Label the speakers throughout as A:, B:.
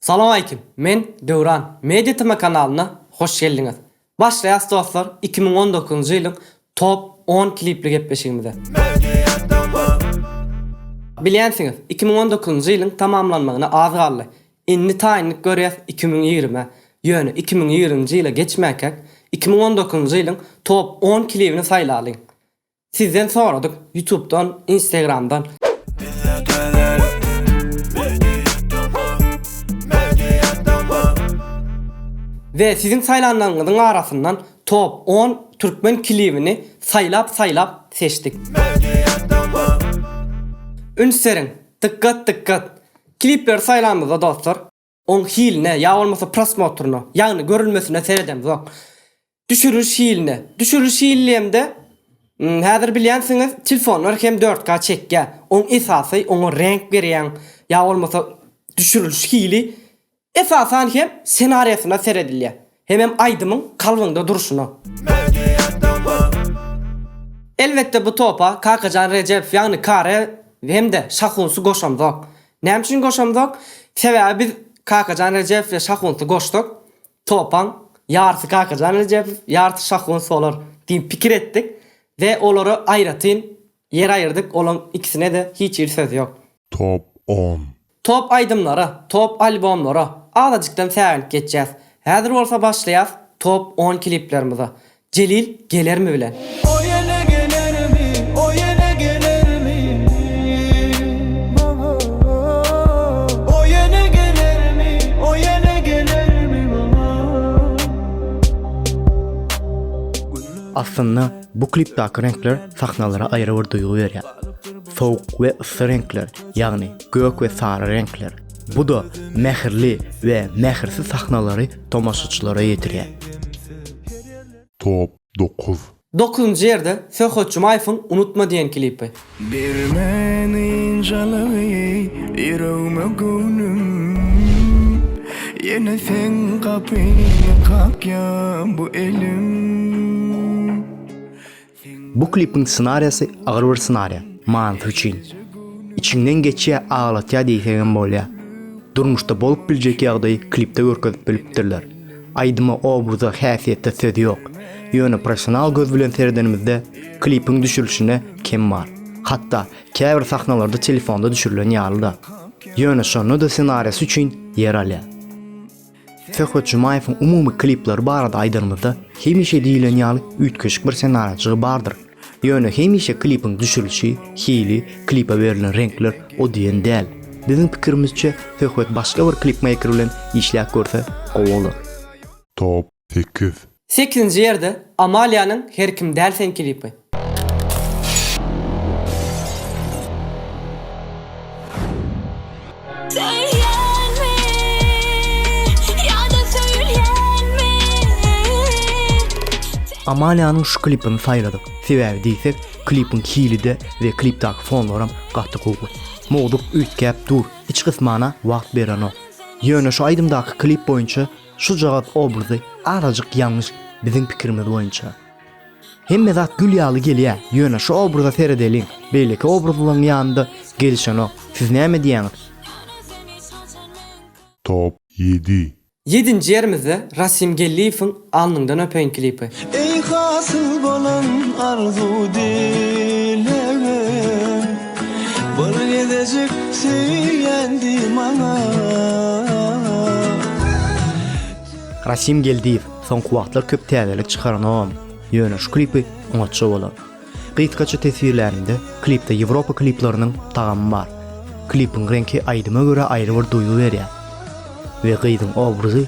A: Salowmaleýkim, men Döwran, Media Tm kanalyna hoş geldiňiz. Başlaýas dostlar iki müň on dokuzynjy ýylyň top on klipli gepleşigimize. Media Tm. Bilýänsiňiz, iki müň on dokuzynjy ýylyň tamamlanmagyna az galdy. Indi taýynlyk görýäs iki müň ýigrimä. Ýöne iki müň ýigriminji ýyla geçmänkäk iki müň on dokuzynjy ýylyň top on klibini saýlalyň. Sizden soradyk ýutubdan instagramdan. Bizde täzelik Media tv Media tv. We siziň saýlanlaryňyzyň arasyndan top on türkmen kilibini saýlap saýlap seçdik. Media tv. Üns beriň! Dykgat dykgat! Kilipleri saýlamyzda dostlar. Oň hiline ýa bolmasa prosmotryna, ýagny görülmesine seredemzok. Düşüriliş hiline. Düşüriliş hili diýemde, häzir bilýänsiňiz, telefonlar hem dört K çekýär. Oň esasy oňa reňk berýäň ýa bolmasa düşüriliş hili. Esasan hem senariýasyna seredilýär. Hemem aýdymyň kalbyňda durşuna. Elbetde bu topa Kakajan Rejepow ýagny Kare hem-de Şahunsy goşamzok. Näme üçin goşamzok? Sebäbi biz Kakajan Rejepow we Şahunsy goşsak, topaň ýarysy Kakajan Rejepow, ýarysy Şahuns bolar diýip pikir etdik we olara aýratyn ýer aýyrdyk, olaň ikisine-de hiç hili söz ýok. Top on.
B: Top aýdymlara,
A: top albomlara azajykdan säginip geçýäs. Häzir bolsa başlaýas top on kliplerimize. Jelil gelermi bilen. O ýene
C: gelermi, o ýene gelermi maňa. O ýene gelermi, o ýene gelermi maňa.
D: Aslynda bu klipdaky reňkler sahnalara aýry bir duýgy berýär. Sowuk we yssy reňkler, ýagny gök we sary reňkler. Bu-da mähirli we mähirsiz sahnalary tomaşaçylara ýetirýär. Top
B: dokuz. Dokuzynjy ýerde
A: Söhbet Jumaýewiň Unutma diýen klipi. Bir
C: men ynjalygy ýüregime göwnüm Ýene seň gapyňy kakýa bu elim.
D: Bu klipiň ssenariýasy agyr bir ssenariýa, manysy üçin. Içiňden geçýä aglatýa diýsegem bolýa. Durmuşda bolup biljek ýagdaýy klipde görkezip bilipdirler. Aýdyma obraza häsiýete söz ýok. Ýöne professional göz bilen seredenimizde klipiň düşürilişinde kem bar. Hatda käbir sahnalarda telefonda düşürilen ýalyda. Ýöne şonda da ssenariýasy üçin ýer alýa. Söhbet Jumaýewiň umumy klipleri barada aýdanymyzda, hemişe diýilen ýaly üýtgeşik bir senarajygy bardyr. Ýöne hemişe klipiň düşülişi, hili, klipe berlen reňkler o diýen däl. Biziň pikirimizçe, söhbet başga bir klipmeýker bilen işläp görse gowy bolar. Top
B: sekiz Sekizinji ýerde
A: Amaliýanyň Her kim däl sen klipi.
D: Amaliýanyň şu klipini saýladyk sebäbi diýsek klipiň hili-de we klipdaky fonlaram gaty gowy. Mowzuk üýtgäp dur, iç gysmana wagt berenok. Ýöne şu aýdymdaky klip boýunça Şu jogap obrazy azajyk ýalňyş biziň pikirimiz boýunça. Hemme zat gül ýaly gelýär, ýöne şu obraza seredeliň, beýleki obrazlaryň ýanynda gelişenok, siz näme diýýäňiz?
B: Top ýedi. Ýedinji ýerimizde
A: Rasim Gelliýewiň Alnyňdan öpeýin klipi. Eý hasyl
C: bolan arzuw dilegim Bir gezejik söýýän diý maňa.
D: Rasim Geldiýew soňky wagtlar köp täzelik çykaranogam, ýöne şu klipi oňatja bolar. Gysgaça teswirlänimde, klipde Ýewropa kliplarynyň tagamy bar. Klipiň reňki aýdyma görä aýry bir duýgy berýär we gyzyň obrazy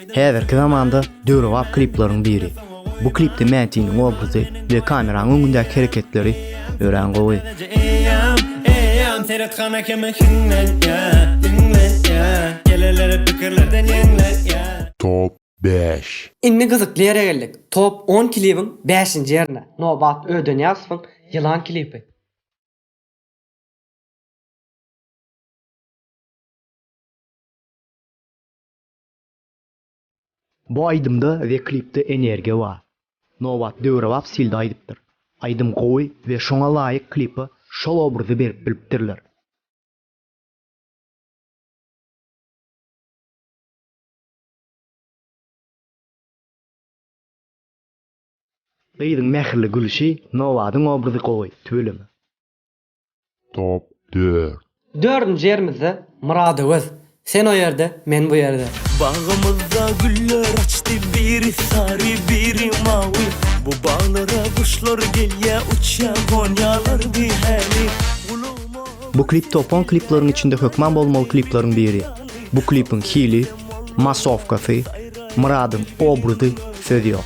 E: Häzirki zamanda
D: döwrebap klipleriň biri. Bu klipde Mätiniň obrazy we kameranyň öňündäki hereketleri örän gowy. Seret
E: gana kimi hiňlenýä, diňlenýä, Geleleri pikirlerden ýeňlenýä. Top bäş.
B: Indi gyzykly ýere
A: geldik. Top on klibiň bäşinji ýerine Nobat Ödeniýazowyň Ýylan klibi.
D: Bu aýdymda we klipde energiýa bar. Nobat döwrebap stilde aýdypdyr. Aýdym gowy we şoňa laýyk klipa şol obrazy berip bilipdirler. Gyzyň mähirli gülüşi Nobadyň obrazy gowy, tüweleme.
B: Top dört. Dördünji
A: ýerimizde Myradöwez. Sen o ýerde, men bu ýerde. Bagymyzda
C: güller açdy Biri sary, biri mawy Bu baglara guşlar gelýä Uçýa gonýalar bihäli Gulagma
D: Bu klip top on klipleriň içinde hökman bolmaly klipleriň biri. Bu klipiň hili, massowkasy, Myradyň obrazy söz ýok.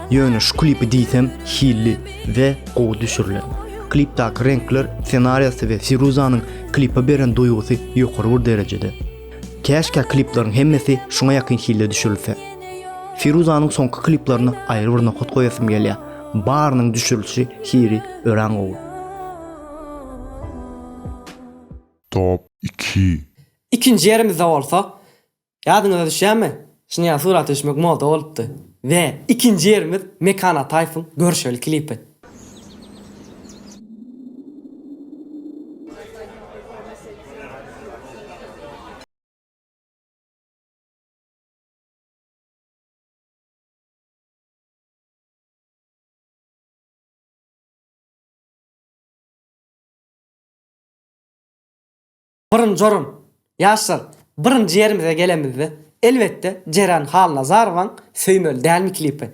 D: Ýöne şu klipi diýsem hilli we gowy düşürilen. Klipdaki reňkler senariýasy we Firuzanyň klipa beren duýgusy ýokary bir derejede. Käşkä kliplaryň hemmesi şuňa ýakyn hilde düşürilse. Firuzanyň soňky kliplaryna aýry bir nokat goýasym gelýär. Barynyň düşürilişi hiri örän gowy.
B: Top iki. Ikinji
A: ýerimizde bolsa Ýadyňyza düşýärmi? Şinýal surata düşmek moda bolupdy. We ikinji ýerimiz Mekan Ataýewiň Görüşeli klipi. Birinji orun, Ýaşlar, birinji ýerimize gelemizde, elbetde, Jeren Halnazarowaň Söýmeli dälmi klipi.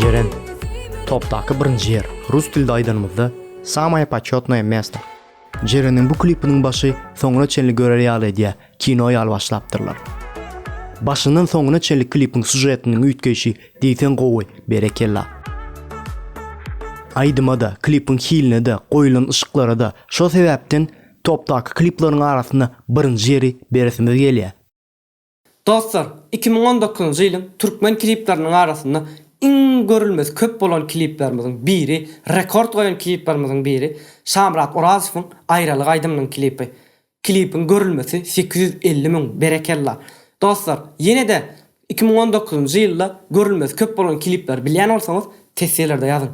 F: Jeren,
D: topdaky birinji ýer. Rus dilde aýdanymyzda, Samaye početnoye mesto. Jereniň bu klipiniň başy soňuna çenli görer ýaly edýär, kino ýaly başlapdyrlar. Başyndan soňuna çenli klipiň sujetiniň üýtgeýşi diýseň gowy, berekella. Aýdyma-da, klipiň hiline-de, goýlan yşyklara-da şo sebäpden topdaky klipleriň arasynda birinji ýeri beresimiz gelýär. Dostlar,
A: iki müň on dokuzynjy ýylyň türkmen klipleriniň arasynda iň görülmesi köp bolan kliplerimiziň biri, rekord goýan kliplerimiziň biri Şamyrat Orazowyň Aýralyk aýdymynyň klipi. Klipiň görülmesi sekiz ýüz elli müň, berekella! Dostlar, ýene-de iki müň on dokuzynjy ýylda görülmesi köp bolan klipleri bilýän bolsaňyz, tesjelerde ýazyň.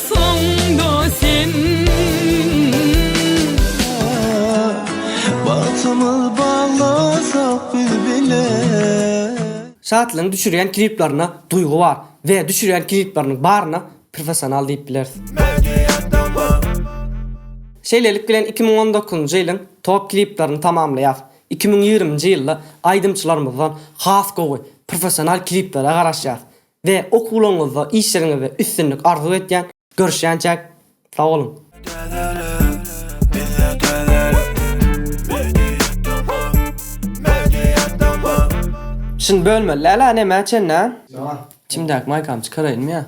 C: Soňda sen Bagtymyz baglasak biz bilen.
A: Şatlygyň düşürýän kliplerinde duýgy bar we düşürýän klipleriniň baryna professional diýip bileris. Şeýlelik bilen iki müň on dokuzynjy ýylyň top kliplerini tamamlaýarys. Iki müň ýigriminji ýylda aýdymçylarymyzdan has gowy, professional kliplere garaşýarys. We okuwlaryňyzda işleriňizde üstünlik arzuw etýän görüşýänçäk sag boluň. Täzelik bizde täzelik Media tv Media tv. Şuny bölmeli däl a nämä çenli a. Içimdäki maýkamy çykaraýynmy ýa.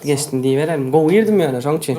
A: Geçsin diýiberelim. Gowy girdim ýöne şoň üçin.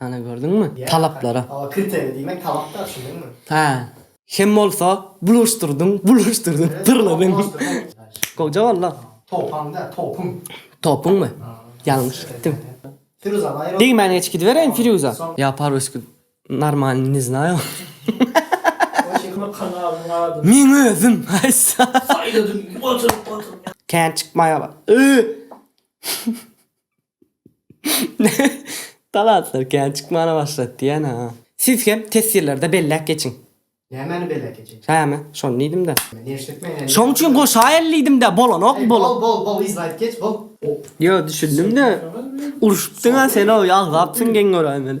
A: Ana gördüňmi? Talaplara. Ol kritery diýmek
G: talapda düşündiňmi? Hä. Hem
A: bolsa bulaşdyrdyň, bulaşdyrdyň, pyrladyň. Goja walla. Topaň däl, topuň.
G: Topuňmy?
A: Ýalňyş gitdim. Firuza Naýyrowa.
G: Degmän geçip gidibereýin
A: Firuza. Ýa parwesku normalny ne znaýo.
G: Men özüm. Kän
A: çykmaýala. Talantlar kän çykmana başlady diýýän-ä. Siz hem teswirlerde belläp geçiň. Nämäni
G: belläp geçeýin? Hä-me, şony diýdim-dä.
A: Neşlik men indi. Şoň
G: üçin goşaýaly
A: diýdim-dä, bolanok bol. Bol, bol, bol,
G: yzlaýyp geç, bol. Ýo, düşündim-de.
A: Urşupdyň-a sen-ow, ýalzapsyň geň göräýmeli.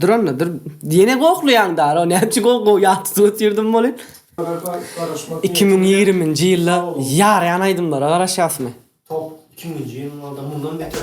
G: Dur onda
A: dur. Ýene goklaýaň dara. Näme üçin gok gok ýatdysyň ötürdüm bolu. 2020-nji ýylda ýaraýan aýdymlara garaşýasmy? Top
G: 2000-nji ýyllarda mundan beter.